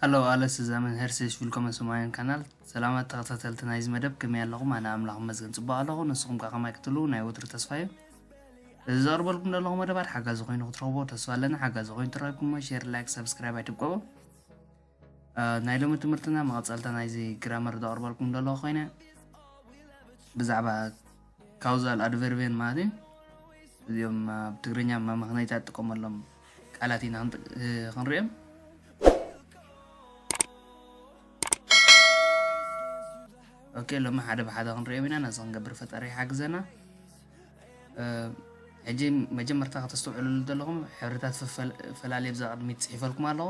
ሃሎ ኣለስ እዛ መምህር ሰይሽ ዊልኮመ ሰማያን ካናል ሰላማት ተኸታተልቲ ናይዚ መደብ ከመይ ኣለኹም ኣነ ኣምላኽ መዝገን ፅቡቅ ኣለኹ ንስኹም ከዓ ከማይ ክትሉ ናይ ወትሩ ተስፋ እዩ እዚ ዘቕርበልኩም ዘለኹ መደባት ሓጋዚ ኮይኑ ክትረኽቦ ተስፋ ኣለና ሓጋዚ ኮይኑ ትረኪብኩሞ ሼር ላይክ ሰብስክራይብ ኣይትብቀቡ ናይ ሎሚ ትምህርትና መቐጸልታ ናይዚ ግራመር ዘቕርበልኩም ዘለኹ ኮይነ ብዛዕባ ካውዛል ኣድቨርቤን ማለት እዩ እዚኦም ኣብ ትግርኛ መመኽነይታት ጥቀመሎም ቃላት ኢና ክንሪኦም ኦኬ ሎሚ ሓደ ብሓደ ክንሪኦም ኢና ነዚ ክንገብር ፈጣሪ ይሓግዘና ሕጂ መጀመርታ ከተስተውዕሉሉ ዘለኹም ሕብርታት ፈላለየ ብዛ ቅድሚት ፅሒፈልኩም ኣለኹ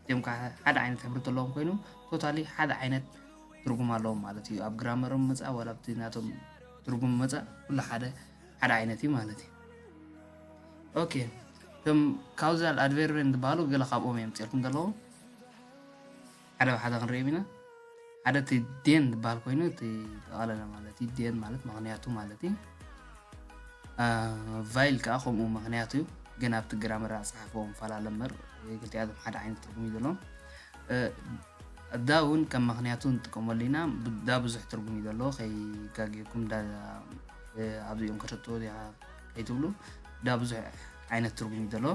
እዚኦም ከዓ ሓደ ዓይነት ሕብሪ ዘለዎም ኮይኖም ቶታሊ ሓደ ዓይነት ትርጉም ኣለዎም ማለት እዩ ኣብ ግራመሮም መፃእ ዋላ ኣብቲ ናቶም ትርጉም መፃእ ኩሉ ሓደ ሓደ ዓይነት እዩ ማለት እዩ ኦኬ እቶም ካውዛል ኣድቨርበን ዝበሃሉ ገለ ካብኦም እዮም ፅርኩም ዘለዎም ሓደ ብሓደ ክንሪኦም ኢና ሓደ እቲ ዴን ዝበሃል ኮይኑ እቲ ጠቓለለ ማለት እዩ ዴን ማለት ምክንያቱ ማለት እዩ ቫይል ከዓ ከምኡ ምክንያቱ እዩ ግን ኣብቲ ግራመር ኣፀሓሕፎ ፈላለ እምበር ክልቲኣቶም ሓደ ዓይነት ትርጉም እዩ ዘለዎም እዳ እውን ከም ምክንያቱ ንጥቀመሉ ኢና ብዳ ብዙሕ ትርጉም እዩ ዘለዎ ከይጋግየኩም ዳ ኣብዚኦም ከተጥዎ እዚኣ ከይትብሉ ዳ ብዙሕ ዓይነት ትርጉም እዩ ዘለዎ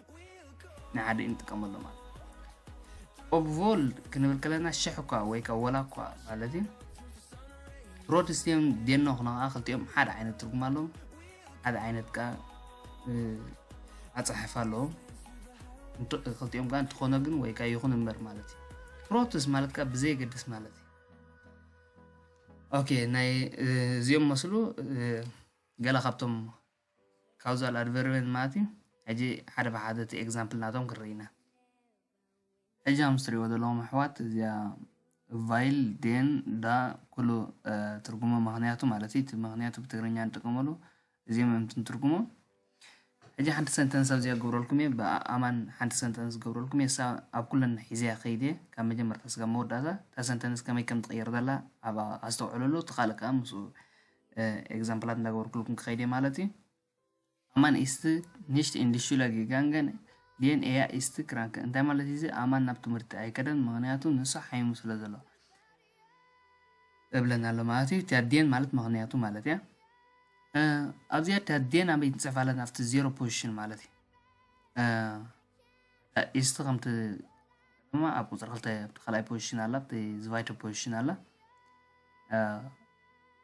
ናይ ሓደ እንጥቀመሉ ማለት ኦብቮልድ ክንብል ከለና ሽሕ እኳ ወይ ከዓ ወላ እኳ ማለት እዩ ፕሮቴስቲዮን ዴኖ ክነ ከዓ ክልቲኦም ሓደ ዓይነት ትርጉም ኣለዎም ሓደ ዓይነት ከዓ ኣፀሓሕፋ ኣለዎም ክልቲኦም ከዓ እንትኾነ ግን ወይ ከዓ ይኹን እምበር ማለት እዩ ፕሮቴስ ማለት ከዓ ብዘየገድስ ማለት እዩ ኦኬ ናይ እዚኦም መስሉ ገላ ካብቶም ካውዛል ኣድቨርብን ማለት እዩ ሕጂ ሓደ ብሓደ እቲ ኤግዛምፕል ናቶም ክንርኢ ኢና ሕጂ ኣምስ ትሪእዎ ዘለዎም ኣሕዋት እዚኣ ቫይል ዴን ዳ ኩሉ ትርጉሞ ምክንያቱ ማለት እዩ እቲ ምክንያቱ ብትግርኛ ንጥቀመሉ እዚኦም እዮም ትንትርጉሞ ሕጂ ሓንቲ ሰንተንስ ኣብዚኣ ገብረልኩም እየ ብኣማን ሓንቲ ሰንተንስ ገብረልኩም እየ እሳ ኣብ ኩለን ሒዘያ ከይድ እየ ካብ መጀመርታ ስጋብ መወዳእታ እታ ሰንተንስ ከመይ ከም ትቕየር ዘላ ኣብ ኣስተውዕለሉ እቲ ካልእ ከዓ ምስ ኤግዛምፕላት እንዳገበርኩልኩም ክኸይድ እየ ማለት እዩ ኣማን ኢስት ኒሽት ኢንዲሹለ ጊጋንገን ዴን ኤያ ኢስት ክራንክ እንታይ ማለት እዩ ኣማን ናብ ትምህርቲ ኣይከደን ምክንያቱ ንሱ ሓይሙ ስለ ዘሎ እብለና ኣሎ ማለት እዩ እቲያ ዴን ማለት ምክንያቱ ማለት እያ ኣብዚኣ እታ ዴን ኣበይ ንፅሕፋለን ኣብቲ ዜሮ ፖዚሽን ማለት እዩ ኢስት ከምቲ ድማ ኣብ ቁፅሪ ክልተ ኣብቲ ካልኣይ ፖዚሽን ኣላ ኣብቲ ዝቫይቶ ፖዚሽን ኣላ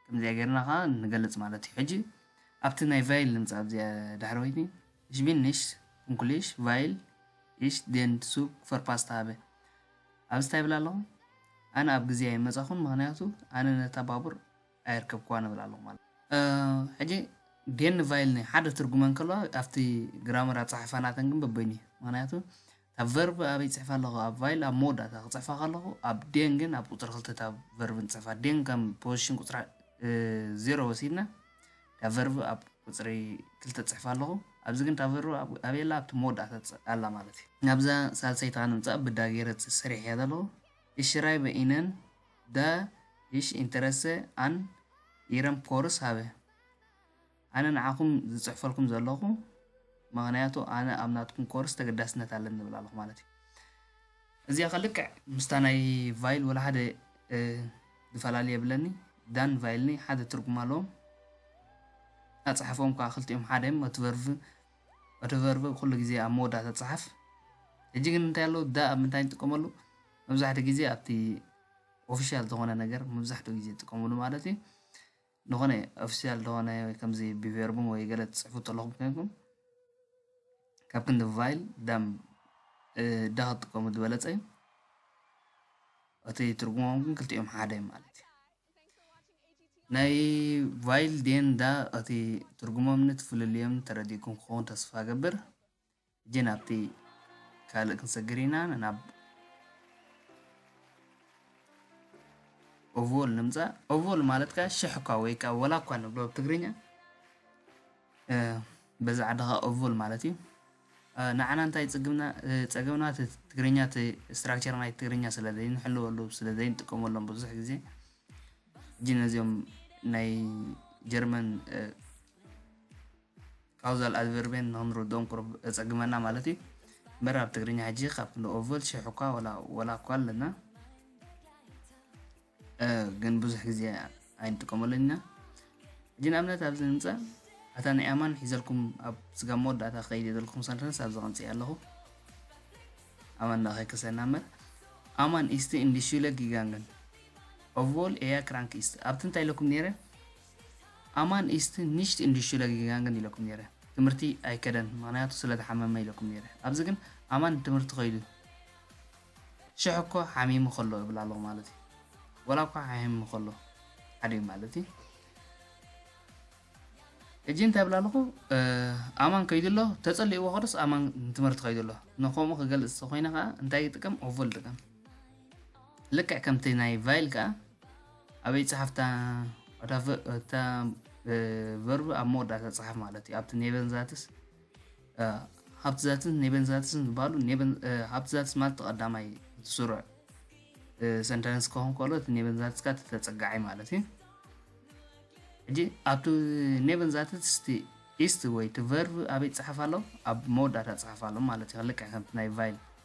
ከምዚኣ ጌርና ከዓ ንገልፅ ማለት እዩ ሕጂ ኣብቲ ናይ ቫይል ንምፃ ኣብዚኣ ድሕሪ ወይኒ Ich bin nicht pünktlich, weil ich den Zug verpasst habe. ኣብዚ እንታይ ይብል ኣለኹ ኣነ ኣብ ግዜ ኣይመፃኹን ምክንያቱ ኣነ ነታ ባቡር ኣየርከብክዋ ንብል ኣለኹ ማለት እዩ። ሕጂ ዴን ቫይል ናይ ሓደ ትርጉመ እንከለዋ ኣብቲ ግራመር ኣጻሕፋ ናተን ግን በበይኑ እዩ። ምክንያቱ እታ ቨርብ ኣበይ ጽሕፋ ኣለኹ ኣብ ቫይል ኣብ መወዳእታ ክጽሕፋ ከለኹ ኣብ ዴን ግን ኣብ ቁጽሪ ክልተ እታ ቨርብ ንጽሕፋ ዴን ከም ፖዚሽን ቁጽሪ ዜሮ ወሲድና እታ ቨርብ ኣብ ቁጽሪ ክልተ ጽሕፋ ኣለኹ ኣብዚ ግን እታ ቨርብ ኣበይ ኣላ ኣብቲ መወዳእታ ኣላ ማለት እዩ ናብዛ ሳልሰይቲ ክንምጻእ ብዳ ገይረ ሰሪሕ እያ ዘለኹ እሽራይ በኢነን ደ ቪሽ ኢንተረሰ ኣን ኢረም ኮርስ ሃበ ኣነ ንዓኹም ዝጽሕፈልኩም ዘለኹ ምክንያቱ ኣነ ኣብ ናትኩም ኮርስ ተገዳስነት ኣለኒ ዝብል ኣለኹ ማለት እዩ እዚኣ ከልክዕ ምስታ ናይ ቫይል ወላ ሓደ ዝፈላለ የብለኒ ዳን ቫይልኒ ሓደ ትርጉም ኣለዎም ኣፅሓፎም ከዓ ክልቲኦም ሓደ እዮም ኦትቨርቭ ኦትቨርቭ ኩሉ ግዜ ኣብ መወዳእታ ፅሓፍ ሕጂ ግን እንታይ ኣለዉ ዳ ኣብ ምንታይ ንጥቀመሉ መብዛሕትኡ ግዜ ኣብቲ ኦፊሻል ዝኾነ ነገር መብዛሕትኡ ግዜ ትጥቀምሉ ማለት እዩ ንኾነ ኦፊሻል ዝኾነ ወይ ከምዚ ብቨርቡም ወይ ገለ ትጽሕፉ ተለኹም ኮይንኩም ካብ ክንዲ ቫይል ዳም እዳ ክትጥቀሙ ዝበለጸ እዩ እቲ ትርጉሞም ግን ክልቲኦም ሓደ እዩ ማለት እዩ ናይ ቫይል ዴን ዳ እቲ ትርጉሞም ንትፍልልዮም ተረዲእኩም ክኸውን ተስፋ ገብር ሕጂ ናብቲ ካልእ ክንሰግር ኢና ናብ ኦቮል ንምፃእ ኦቮል ማለት ከዓ ሽሕ እኳ ወይ ከዓ ወላ እኳ ንብሎ ኣብ ትግርኛ በዛ ዓዲ ከዓ ኦቮል ማለት እዩ ንዓና እንታይ ፅግምና ፀገምና እቲ ትግርኛ እቲ ስትራክቸር ናይ ትግርኛ ስለ ዘይንሕልወሉ ስለ ዘይንጥቀመሎም ብዙሕ ግዜ ሕጂ ነዚኦም ናይ ጀርመን ካውዛል ኣድቨርቤን ንክንርድኦም ቁሩብ የጸግመና ማለት እዩ እምበር ኣብ ትግርኛ ሕጂ ካብ ክንዲ ኦቭል ሽሕ እኳ ወላ እኳ ኣለና ግን ብዙሕ ግዜ ኣይንጥቀመሉን ኢና ሕጂ ንኣብነት ኣብዚ ንምፃእ ኣታ ናይ ኣማን ሒዘልኩም ኣብ ስጋብ መወዳእታ ክኸይድ እየ ዘለኩም ሰንተንስ ኣብዚ ቀንፅየ ኣለኹ ኣማን ዳ ከይከሰና እምበር ኣማን ኢስቲ እንዲሹለ ጊጋንግን ኦቮል ኤያ ክራንክ ኢስት ኣብቲ እንታይ ኢለኩም ነይረ ኣማን ኢስት ኒሽት ኢንዱሽትሪለ ጊጋንግን ኢለኩም ነይረ ትምህርቲ ኣይከደን ምክንያቱ ስለተሓመመ ኢለኩም ነይረ ኣብዚ ግን ኣማን ትምህርቲ ከይዱ ሽሕ እኮ ሓሚሙ ከሎ እብል ኣለኩ ማለት እዩ ወላ እኳ ሓሚሙ ከሎ ሓደ እዩ ማለት እዩ ሕጂ እንታይ ብል ኣለኹ ኣማን ከይዱ ኣሎ ተፀሊእዎ ከዶስ ኣማን ትምህርቲ ከይዱ ኣሎ ንከምኡ ክገልፅ ተኮይነ ከዓ እንታይ ይጥቀም ኦቮ ልጥቀም ልክዕ ከምቲ ናይ ቫይል ከዓ ኣበይ ጸሓፍ እታ ቨርብ ኣብ መወዳእታ ጸሓፍ ማለት እዩ ኣብቲ ኔቨን ዛትስ ሃብቲ ዛትስ ኔቨን ዛትስን ዝበሃሉ ሃብቲ ዛትስ ማለት ተቐዳማይ እቲ ስሩዕ ሰንተንስ ከሆን ከሎ እቲ ኔቨን ዛትስካ እቲ ተጸጋዒ ማለት እዩ ሕጂ ኣብቲ ኔቨን ዛትስ እቲ ኢስት ወይ እቲ ቨርብ ኣበይ ጸሓፍ ኣሎ ኣብ መወዳእታ ጸሓፍ ኣሎ ማለት እዩ ልክዕ ከምቲ ናይ ቫይል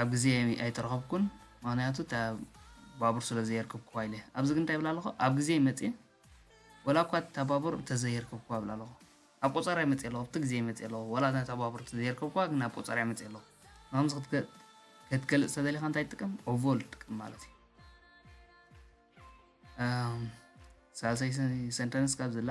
ኣብ ግዜ ኣይተረኸብኩን ምክንያቱ እታ ባቡር ስለ ዘየርከብክዋ ኢለ ኣብዚ ግን እንታይ ይብል ኣለኹ ኣብ ግዜ መጽየ ወላ እኳ እታ ባቡር እንተዘየርከብክዋ ይብል ኣለኹ ኣብ ቆጸርያ መጽየ ኣለኹ ኣብቲ ግዜ መጽየ ኣለኹ ወላ እታ ባቡር እንተዘየርከብክዋ ግን ኣብ ቆጸርያ መጽየ ኣለኹ ንከምዚ ክትገልጽ ተደሊኻ እንታይ ትጥቀም ኦቮል ትጥቀም ማለት እዩ ሳልሰይ ሰንተንስ ካብ ዘላ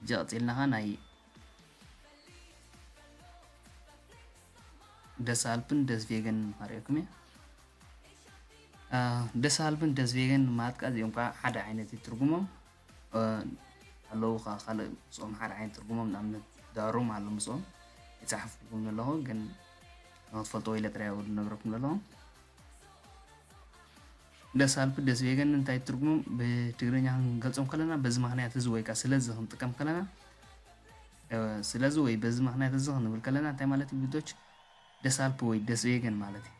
ሕጂ ቀጺልናኻ ናይ ደስኣልፕን ደስቬገን ኸርእየኩም እየ። ደስኣልፕን ደስቬገን ማትካ እዚኦም ከዓ ሓደ ዓይነት እዩ ትርጉሞም ኣለዉ ከዓ ካልእ ምስኦም ሓደ ዓይነት ትርጉሞም ንኣብነት ዳሩም ኣሎ ምስኦም ይፀሓፍኩም ዘለኹ ግን ንክትፈልጥዎ ኢለ ጥራይ ዝነግረኩም ዘለኹ ለሳልኩ ደስ ቤገኒ እንታይ ትርጉሞም ብትግርኛ ክንገልጾም ከለና በዚ ምክንያት እዚ ወይ ከኣ ስለዚ ክንጥቀም ከለና እወ ስለዚ ወይ በዚ ምክንያት እዚ ክንብል ከለና እንታይ ማለት እዩ ብዶች ደሳልፕ ወይ ደስ ቤገን ማለት እዩ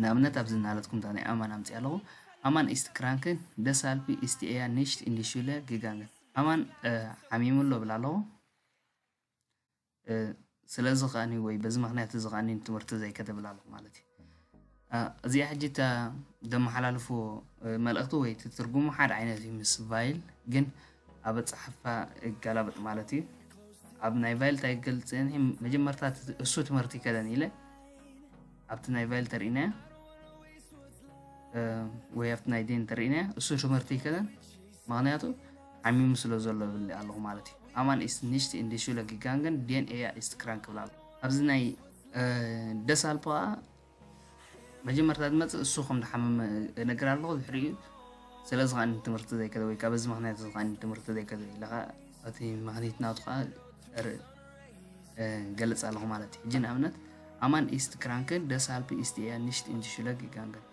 ንኣብነት ኣብዚ እናለጥኩም እታ ናይ ኣማን ኣምፅያ ኣለኹ ኣማን ኢስት ክራንክን ደሳልፒ ኢስት ኤያ ኒሽት ኢንዲሹለ ጊጋንግን ኣማን ሓሚሙ ኣሎ ብላ ኣለኹ ስለዚ ከኣኒ ወይ በዚ ምክንያት እዚ ከኣኒ ትምህርቲ ዘይከተብል ኣለኹ ማለት እዩ እዚኣ ሕጂ እታ ዘመሓላልፎ መልእኽቲ ወይ እቲ ትርጉሙ ሓደ ዓይነት እዩ ምስ ቫይል ግን ኣብ ኣፀሓፋ ይገላበጥ ማለት እዩ ኣብ ናይ ቫይል እንታይ ገልፅን መጀመርታ እሱ ትምህርቲ ይከደን ኢለ ኣብቲ ናይ ቫይል ተርእና ወይ ኣብቲ ናይ ዴን ተርእና እሱ ትምህርቲ ይከደን ምኽንያቱ ዓሚሙ ስለ ዘሎ እብል ኣለኹ ማለት እዩ። ኣማን ኢስት ኒሽት ኢን ዲ ሹለ ጊጋንገን ዴን ኤያ ኢስት ክራንክ ክብል ኣለኹ። ኣብዚ ናይ ደሳልፖ ከኣ መጀመርታ ዝመጽእ እሱ ከም ዝሓመመ እነግር ኣለኹ ድሕሪኡ ስለዚ ከኣ ትምህርቲ ዘይከደ ወይ ከኣ በዚ ምኽንያት እዚ ከኣ ትምህርቲ ዘይከደ ኢለ ከኣ እቲ ምኽኒት ናቱ ከኣ ገልጽ ኣለኹ ማለት እዩ። ሕጂ ንኣብነት ኣማን ኢስት ክራንክ ደሳልፒ ኢስት ኤያ ኒሽት ኢን ዲ ሹለ ጊጋንገን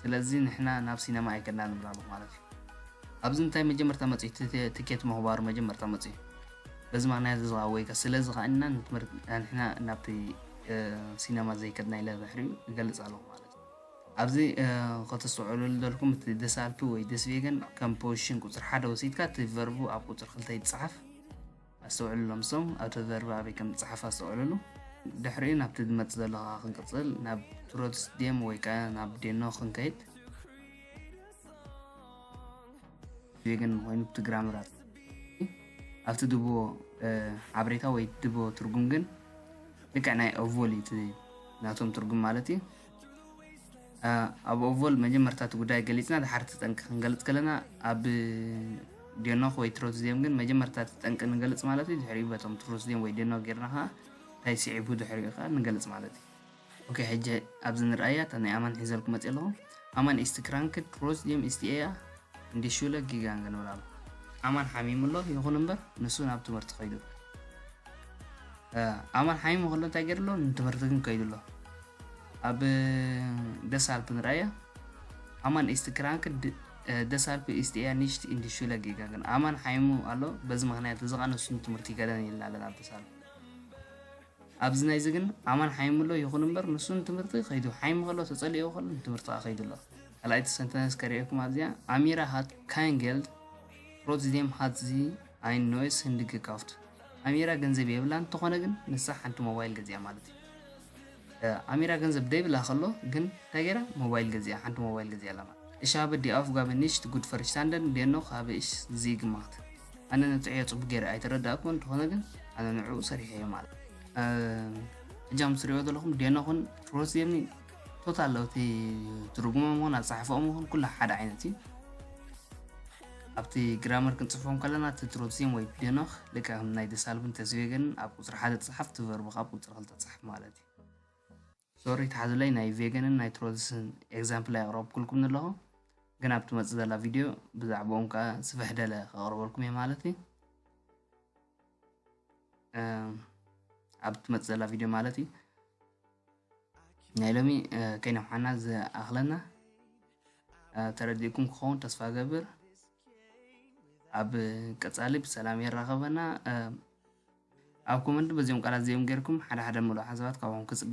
ስለዚ ንሕና ናብ ሲነማ ኣይከድናን ንብል ኣለኹ ማለት እዩ። ኣብዚ እንታይ መጀመርታ መጺ እቲ ትኬት ምኽባሩ መጀመርታ መጺ በዚ ምኽንያት እዚ ኸኣ ወይከ ስለዚ ኸኣ ኢና ንሕና ናብቲ ሲነማ ዘይከድና ኢለ ድሕሪኡ እገልጽ ኣለኹ ማለት እዩ። ኣብዚ ከተስተውዕሉ ዝደልኩም እቲ ደሳልፒ ወይ ደስቬገን ከም ፖዚሽን ቁጽሪ ሓደ ወሲድካ እቲ ቨርቡ ኣብ ቁጽሪ ክልተ ይጸሓፍ። ኣስተውዕሉ ሎም ሶም ኣብ ተዘርባ ኣበይ ከም ዝጸሓፍ ኣስተውዕልሉ ድሕሪኡ ናብቲ ዝመጽእ ዘሎ ከኣ ክንቅጽል ናብ ትሮትስ ዴም ወይ ከኣ ናብ ዴኖ ክንከይድ ዜግን ኮይኑ ትግራምራት ኣብቲ ድቦ ሓበሬታ ወይ ድቦ ትርጉም ግን ልክዕ ናይ ኦቮል እዩ ናቶም ትርጉም ማለት እዩ ኣብ ኦቮል መጀመርታ እቲ ጉዳይ ገሊፅና ድሓር እቲ ጠንቂ ክንገልፅ ከለና ኣብ ዴኖክ ወይ ትሮትስዲየም ግን መጀመርታ እቲ ጠንቂ ንገልፅ ማለት እዩ ድሕሪኡ በቶም ትሮትስዲየም ወይ ዴኖክ ጌርና ከዓ እንታይ ስዒቡ ድሕሪኡ ከዓ ንገልፅ ማለት እዩ ኦኬ ሕጂ ኣብዚ ንርኣያ እታ ናይ ኣማን ሒዘልኩ መፅእ ኣለኹ ኣማን ኢስቲ ክራንክ ትሮትስዲየም ኢስቲ ኤያ እንዲሹለ ጊጋንገ ንብል ኣሎ ኣማን ሓሚሙ ኣሎ ይኹን እምበር ንሱ ናብ ትምህርቲ ከይዱ ኣማን ሓሚሙ ከሎ እንታይ ገይሩ ኣሎ ንትምህርቲ ግን ከይዱ ኣሎ ኣብ ደሳልፕ ንራያ ኣማን ኢስት ክራንክ ድ ደሳልፕ ኢስት እያ ኒሽት ኢንድ ሹለ ጌጋገን ኣማን ሓይሙ ኣሎ በዚ ምክንያት እዚ ቃ ንሱን ትምህርቲ ገደን ይላለን ኣብ ደሳልፕ ኣብዚ ናይዚ ግን ኣማን ሓይሙ ኣሎ ይኹን እምበር ንሱን ትምህርቲ ከይዱ ሓይሙ ከሎ ተጸሊኦ ከሎ ንትምህርቲ ከዓ ከይዱ ኣሎ ካልኣይቲ ሰንተነስ ከርእየኩም ኣብዚኣ ኣሚራ ሃት ካንጌልድ ሮትዚም ሃትዚ ኣይን ኖይስ ህንዲ ገካፍት ኣሚራ ገንዘብ የብላን እንተኾነ ግን ንሳ ሓንቲ ሞባይል ገዚኣ ማለት እዩ ኣሚራ ገንዘብ ደይብላ ከሎ ግን እንታይ ገይራ ሞባይል ገዚኣ ሓንቲ ሞባይል ገዚኣ ኣላ ማለት እሽ ሃበ ዲ ኣፍጋበ ኒሽት ጉድ ፈርሽታንደን ዴኖክ ሃበ እሽ ዝይ ግማክት ኣነ ነብፅዐዮ ፅቡቅ ገይረ ኣይተረዳእኩ እንተኾነ ግን ኣነ ንዕኡ ሰሪሐዮ ማለት እጃም ትሪኦ ዘለኹም ዴኖክን ሮዝየሚ ቶታል እቲ ትርጉሞም ኹን ኣፀሓሕፈኦም ኹን ኩላ ሓደ ዓይነት እዩ ኣብቲ ግራመር ክንጽሕፎም ከለና እቲ ትሮትዚም ወይ ፒደኖኽ ልክዕ ከም ናይ ደሳልብን ተስቬገንን ኣብ ቁጽሪ ሓደ ትጽሓፍ እቲ ቨርብ ካብ ቁጽሪ ክልተ ትጽሓፍ ማለት እዩ ሶሪ ተሓዙለይ ናይ ቬገንን ናይ ትሮትስን ኤግዛምፕል ኣየቕረብኩልኩም ኣለኹ ግን ኣብ ትመፅእ ዘላ ቪድዮ ብዛዕባኦም ከዓ ስፍሕ ደለ ከቕርበልኩም እየ ማለት እዩ ኣብ ትመፅእ ዘላ ቪድዮ ማለት እዩ ናይ ሎሚ ከይነውሓና ዝኣኽለና ተረዲእኩም ክኸውን ተስፋ ገብር ኣብ ቀፃሊ ብሰላም የራኸበና ኣብ ኮመንት በዚኦም ቃላት እዚኦም ጌርኩም ሓደ ሓደ ምሉእ ሓሳባት ካብኦም ክፅበ